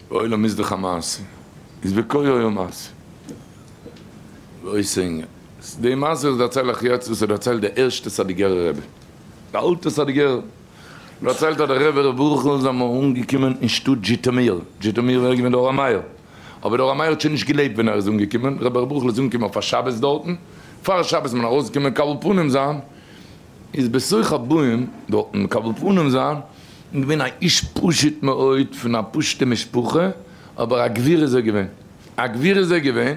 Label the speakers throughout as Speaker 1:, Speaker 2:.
Speaker 1: עולם איז דאך א מעשה, איז בקוה אויך א מעשה? ועוד סענגער, די מעשה וואס דערצייל איך יעצט וואס איז דערציילט די ערשטע סאדיגערע רבי, די אלטע סאדיגערע, דערציילט אז די רבי ר' ברוך איז אמאל אנגעקומען אין שטאט זשיטאמיר, זשיטאמיר ווען ער איז געווען די אור המאיר, אבער די אור המאיר האט שוין נישט געלעבט ווען ער איז אנגעקומען, רבי ר' ברוכ'ל איז אנגעקומען אויף א שבת דארטן, פאר שבת מוז מען ארויסקומען קבל פנים זיין, איז בסוך הבאים דארטן מקבל פנים זיין, און געווען א איש פשוט מאוד פון א פשוטע משפחה, אבער א גביר איז ער געווען, א גביר איז ער געווען,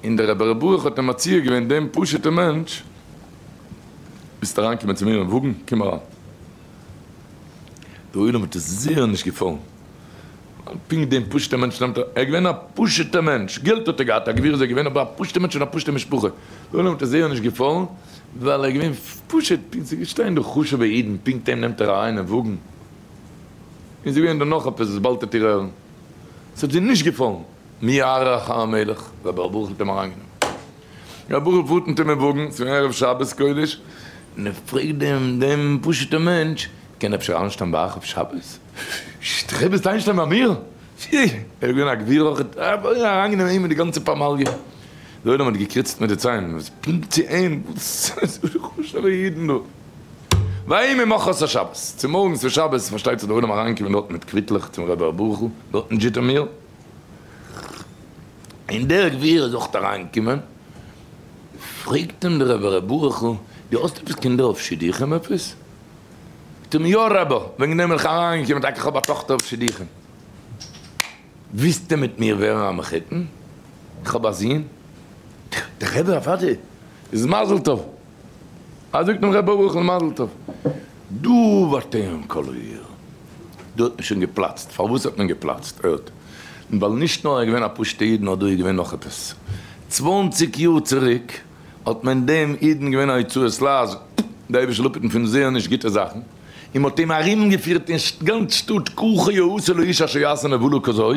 Speaker 1: און דער רבי ר' ברוך האט אים מציע געווען דעם פשוט'ע מענטש, ווילסט אריין קומען צו מיר אין וואגן? קום אריין. די עולם האט עס זיעער נישט געפאלן. פונקט דעם פשוט'ער מענטש נעמט ער, ער איז געווען א פשוט'ער מענטש, געלט האט ער געהאט, א גביר איז ער געווען, אבער א פשוט'ער מענטש פון א פשוט'ער משפחה, דער עולם האט עס זייער נישט געפאלן, ווייל ער איז געווען פשוט, פונקט ס'איז געשטאנען דא חשוב'ע אידן, פונקט אים נעמט ער אריין אין וואגן, און ס'איז געווען דא נאך עפעס וואס באלד העט איר הערן, ס'האט זיי נישט געפאלן, מי יערוך המלך, רבי ברוך האט אים אריינגענומען. א בחור פארט מיט אים אין וואגן, ס'איז ערב שבת קודש, און ער פרעגט דעם דעם פשוט'ער מענטש, קען אפשר איינשטיין ביי אייך אויף שבת? ש'ט איך עפעס איינשטיין ביי מיר? פי! ער איז געווען א גביר אויך, אוי אריינגענומען אים מיט די גאנצע פמליא, דער עולם האט געקריצט מיט די ציין, וואס פונקט צו אים? וואס איז חשוב'ע אידן דא? ויהי ממחרת השבת, צומארגנס פון שבת פארשטייט זיך דער עולם אריינגעקומען דארט מיט קוויטלעך צום רבי אברבורוך'ל דארט אין זשיטאמיר, אין דער גביר איז אויך אריין געקומען, פרעגט אים דער רבי ר' ברוך'ל דו האסט עפעס קינדער אויף שידוכים עפעס? זאגט אים יא רבי, וועגן דעם בין איך אריין געקומען, טאקע איך האב א טאכטער אויף שידוכים, ווילסטו מיט מיר ווערן א מחותן? איך האב א זון, דער רבי אוודאי איז מזל טוב. אזוי זאגט נאך ר' ברוכ'ל מזל טוב. דא ווארט איין קאליר. דא האט מען שוין געפלאצט. פארוואס האט מען געפלאצט? ער האט. ווייל נישט נאר ער איז געווען א פשוטע איד נאר דא איז געווען נאך עפעס. צוואנציג יאר צוריק האט מען דעם אידן געווען א יצואת לייז די אייבישע לאפעטן פון זעהן נישט גוטע זאכן און מ'האט אים ארומגעפירט אין גאנץ שטאט ככה יעשה לאיש אשר יעשה נבלה כזאת.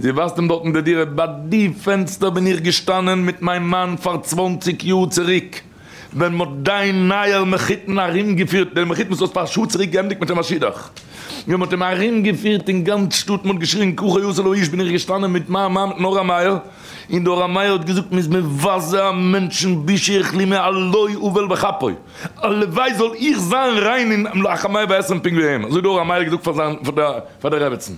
Speaker 1: זי ווייזט אים דארט אין די דירה, ביי די פענסטער בין איך געשטאנען מיט מיין מאן פאר צוואנציג יאר צוריק, ווען מען האט דיין נייער מחותן ארומגעפירט, דער מחותן וואס האסט פאר א שעה צוריק געענדיגט מיט אים א שידוך, ווען מען האט אים ארומגעפירט אין גאנץ שטאט, מען האט געשריגן ככה יעשה לאיש, בין איך געשטאנען מיט מיין מאן מיטן אור המאיר, און דער אור המאיר האט געזאגט מען איז מבזה א מענטשן בושה איכלי מעלוי אבל בכפו, הלוואי זאל איך זיין ריין און א חמי ועשרים פונקט ווי אים, אזוי האט דער אור המאיר געזאגט פאר דער רעבעצן.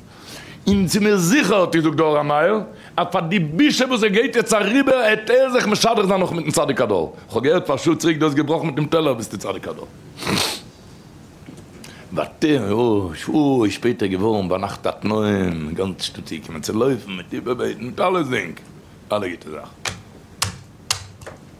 Speaker 1: און צו מיר זיכער האט געזאגט דער אור המאיר אז פאר די בושה וואס ער גייט יעצט אריבער העט ער זיך משדך זיין נאך מיטן צדיק הדור, כ'האב געהערט פאר א שעה צוריק דו האסט געבראכן מיט דעם טעלער ביסטו צדיק הדור. ווייטער אוי שפעטער געווארן ביינאכט א תנאים גאנץ שטאט צוגעקומען צו לויפן מיט איבערבעטן מיט אלעסדינג אלע גוטע זאכן.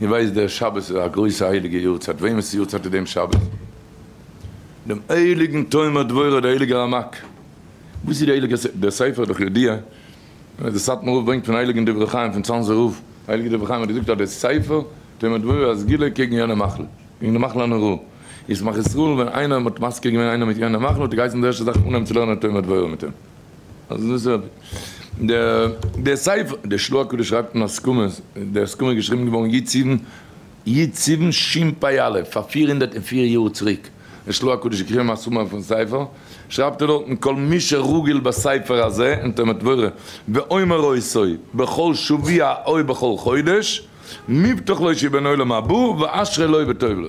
Speaker 1: איר ווייסט דער שבת איז א גרויסע הייליגע יארצייט, וועמענס יארצייט איז דעם שבת? דעם הייליגן תומר דבורה, דער הייליגער רמק, וואס איז די הייליגע ס דער ספר איז דאך ידוע, אז דער סאטמאר רב ברענגט פון הייליגן דברי חיים פון צאנזער רב, הייליגער דברי חיים האט געזאגט אז דער ספר תומר דבורה איז א סגולה קעגן יענע מחלה, קעגן די מחלה הנוראה, איז שמח ישראל ווען איינער האט מזכיר געווען איינעם מיט יענע מחלה האט ער געהייסן די ערשטע זאך אנהייבן צו לערנען תומר דבורה מיט אים. אז דאס איז דער ספר, דער שלא הקדוש שרייבט אין הסכמות, די הסכמה איז געשריבן געווארן י ט סיוון, י ט סיוון שפ א, פאר פֿיר הונדערט און פֿיר יאר צוריק, דער שלא הקדוש האט געשריבן א סומערי פון ספר, שרייבט ער דארטן כל מי שרגיל בספר הזה אין תומר דבורה, ואומר עושו בכל שבוע או בכל חודש, מובטח לו שיהיה בן עולם הבא, ואשרי לו וטוב לו.